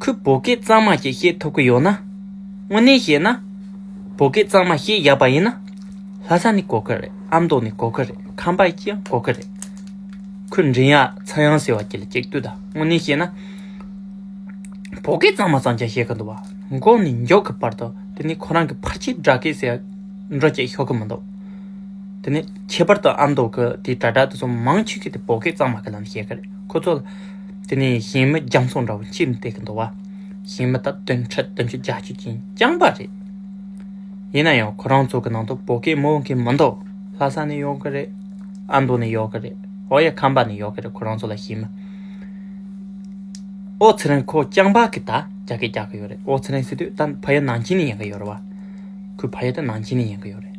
ཁོས་བོད་སྐད་གཙང་མ་ཞིག་བཤད་ཐུབ་ཀྱི་ཡོད་ན། དངོས་གནས་བཤད་ན། བོད་སྐད་གཙང་མ་བཤད་ཡག་པ་ཡིན་ན། ལྷ་ས་ནས་གོ་གི་རེད་ཨ་མདོ་ནས་གོ་གི་རེད་ཁམས་པ་ཡིས་ཀྱང་གོ་གི་རེད། ཁོས་མགྲིན་གཡག་ཚ་ཡང་ཟེར་བ་དེ་ལ་གཅིག་ལྟོས་དང་དངོས་གནས་བཤད་ན། བོད་སྐད་གཙང་མ་གཙང་ཆ་བཤད་ཀྱི་འདུག་བ་འགོག་ནས་མགྱོགས་ཀྱི་བར་དུ་དེ་ནས་ཁོ་རང་གི་ཕར་ཆེར་སྦྲག་སྐད་ཟེར་འགྲོ་བསྐྱལ་ཤོག་གི་མི་འདུག་དེ་ནས་ཁྱད་པར་དུ་ཨ་མདོ་གི་དེ་དྲ་གྲགས་དེ་ཚོ་མང་ཆེ་ཤོས་དེ་བོད་སྐད་གཙང་མ་གི་ལམ་བཤད་ཀྱི་རེད་ཁོ་ཚོ་ལ། དེ་ནས་གཞན་མི་རྒྱ་མཚོ་འདྲ་བོ་ཅིར་འདེགས་ཀྱི་འདུག་བ། གཞན་མི་དག་དོན་འཕྲལ་དུ་འཇུ་བརྒྱ་བྱེད་ཀྱིན་བསྐྱངས་པ་རེད། ཡིན་ན་ཡང་ཁོ་རང་ཚོ་གི་ནང་དུ་བོད་སྐད་སྨོས་མཁན་མི་འདུག་ལྷ་ས་ནས་ཡོང་གི་རེད། ཨ་མདོ་ནས་ཡོང་གི་རེད་འོ་ཡ་ཁམས་པ་ནས་ཡོང་གི་རེད་ཁོ་རང་ཚོ་ལ་གཞན་མི། ཨོ་ཚེ་རིང་ཁོ་རྐྱང་པ་གི་དག་རྒྱ་སྐད་རྒྱག་གི་ཡོད་རེད་ཨོ་ཚེ་རིང་སི་ཏུས་ད་ཕ་ཡུལ་ནང་ཆེན་ནས་ཡིན་གི་ཡོད་རེད་བ། ཁོའི་ཕ་ཡུལ་ད་ནང་ཆེན་ནས་ཡིན་གི་ཡོད་རེད།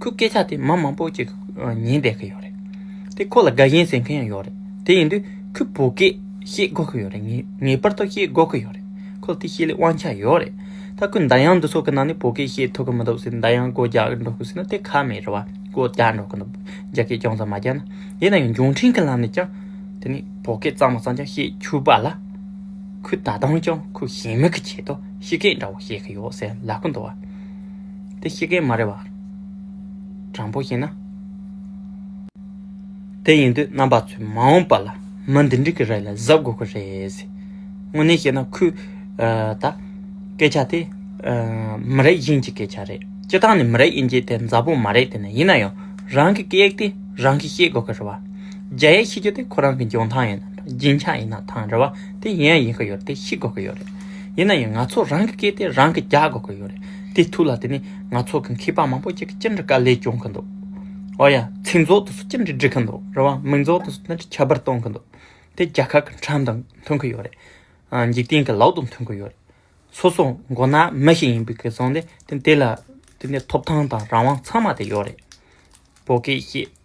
ཁོའི་སྐད་ཆ་དེ་མ་མང་པོ་ཞིག་ཉན་བསྡད་ཀྱི་ཡོད་རེད། དེ་ཁོ་ལ་དགའ་ཞེན་ཟེར་མཁན་ཡང་ཡོད་རེད། དེ་ཡིན་དུས་ཁོས་བོད་སྐད་ཤེས་དགོས་ཀྱི་ཡོད་རེད། ངེས་པར་དུ་ཤེས་དགོས་ཀྱི་ཡོད་རེད། ཁོ་ལ་དེ་ཤེས་ལེའི་དབང་ཆ་ཡོད་རེད། ད་ཁོས་མདའ་དབྱངས་འདི་ཚོགས་ཀྱི་ནང་ནས་བོད་སྐད་ཤེས་ཐུབ་ཀྱི་མི་འདུག་ཟེར་མདའ་དབྱངས་སྒོ་རྒྱག་འགྲོ་དགོས་ཟེར་ན་དེ་ཁ་མེད་རེད་བ། སྒོ་རྒྱག་འགྲོ་གི་འདུག་རྒྱ་སྐད་ཅུང་ཙམ་མ་རྒྱག་ན། དེ་ན་ཡང་འབྱོར་འཕྲིན་གྱི་ལམ་ནས་ཀྱང་དེ་ནས་བོད་སྐད་གཙང་མ་གཙང་རྐྱང་བཤད་ཆུག་པ་ལ། ཁོས་ད་དུང་ཀྱང་ཁོའི་གཞན་མིག་གི་ཆེད་དུ་ཤི་སྐད་འདྲ་བོ་བཤད་ཀྱི་ཡོད་ཟེར་ལབ་ཀྱི་འདུག་བ། དེ་ཤེས་མཁན་མ་རེད་བ། དྲང་པོ་བཤད་ན། དེ་ཡིན་དུས་རྣམ་པ་ཚོས་མ་འོངས་པ་ལ་མི་འདི་འདྲི་གི་རེད་ལ་གཟབ་དགོས་ཀྱི་རེད། དངོས་གནས་བཤད་ན་ཁོས་ད། སྐད་ཆ་དེ། མི་རེ་གཞན་གྱི་སྐད་ཆ་རེད་སྤྱི་བཏང་ནས་མི་རེ་དབྱེ་འབྱེད་དེ་འཛའ་བོ་མ་རེད་དེ་ནི་ཡིན་ན་ཡང་རང་གི་སྐད་ཡིག་དེ་རང་གིས་ཤེས་དགོས་ཀྱི་རེད་བ། རྒྱ་ཡིག་ཤེས་རྒྱུ་དེ་ཁོ་རང་གི་འཇོན་ཐང་ཡིན་ནམ་རྒྱན་ཆ་ཡིན་ན་ཐང་རེད་བ་དེ་གཞན་ཡིན་གྱི་ཡོད་རེད་དེ་ཤེས་དགོས་ཀྱི་ཡོད་རེད། ཡིན་ན་ཡང་ང་ཚོ་རང་གི་སྐད་དེ་རང་གིས་རྒྱག་དགོས་ཀྱི་ཡོད་རེད། དེའི་ཐུགས་ལ་དེ་ནས་ང་ཚོ་གི་མཁས་པ་མང་པོ་ཅིག་གིས་ཅི་འདྲི་དཀའ་ལས་སྐྱོང་གི་འདུག་ཨོ་ཡ། ཚིག་རྫོགས་དུ་སུ་ཅི་འདྲི་འབྲི་གི་འདུག་རེད་བ། མིང་རྫོགས་དུ་སུ་ཅི་འདྲི་ཁྱད་པར་གཏོང་གི་འདུག་དེ་རྒྱ་གར་གི་འཁྲབ་དང་མཐུན་གི་ཡོད་རེད། འཇིག་རྟེན་གྱི་ལག་དང་མཐུན་གི་ཡོད་རེད། སོ་སོ་མགོ་ནག་མི་ཞིག་ཡིན་པའི་ཁེ་བཟང་དེ་དེ་ལ་དེ་ནས་ཐོབ་ཐང་དང་རང་དབང་ཚང་མ་དེ་ཡོད་རེད། བོད་སྐད་བཤད།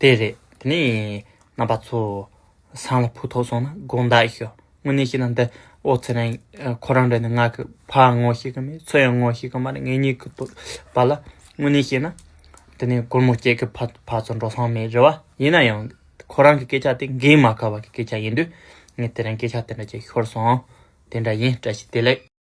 དེ་རེད། དེ་ནས་རྣམ་པ་ཚོ། སང་ལ་བུ་ཐོག་སོང་ན་དགོངས་དག་ཞུ། དངོས་གནས་ཤི་ན་འདི་ཨོ་རྩལ་རན། ཁོ་རང་འདྲ་ནི་ང་གི་ཕ་ངོ་ཤེས་ཀྱི་མེད་ཚོད་ཡང་ངོ་ཤེས་ཀྱི་མ་རེད་ངེད་གཉིས་ཀྱི་དོ་བ་ལ་དངོས་གནས་བཤད་ན། དེ་ནས་སྒོར་མོ་སྐྱེས་ཀྱི་ཕ་ཚོ་འགྲོ་སོང་མེད་རེད་བ། ཡིན་ན་ཡང། ཁོ་རང་གི་སྐད་ཆ་དེ་འགན་མ་ཁུར་བ་གི་སྐད་ཆ་ཡིན་དུས། ངས་དེ་རིང་སྐད་ཆ་དེ་འདྲ་བྱས་ཤོར་སོང། དེ་འདྲ་ཡིན་བཀྲ་ཤིས་བདེ་ལེགས།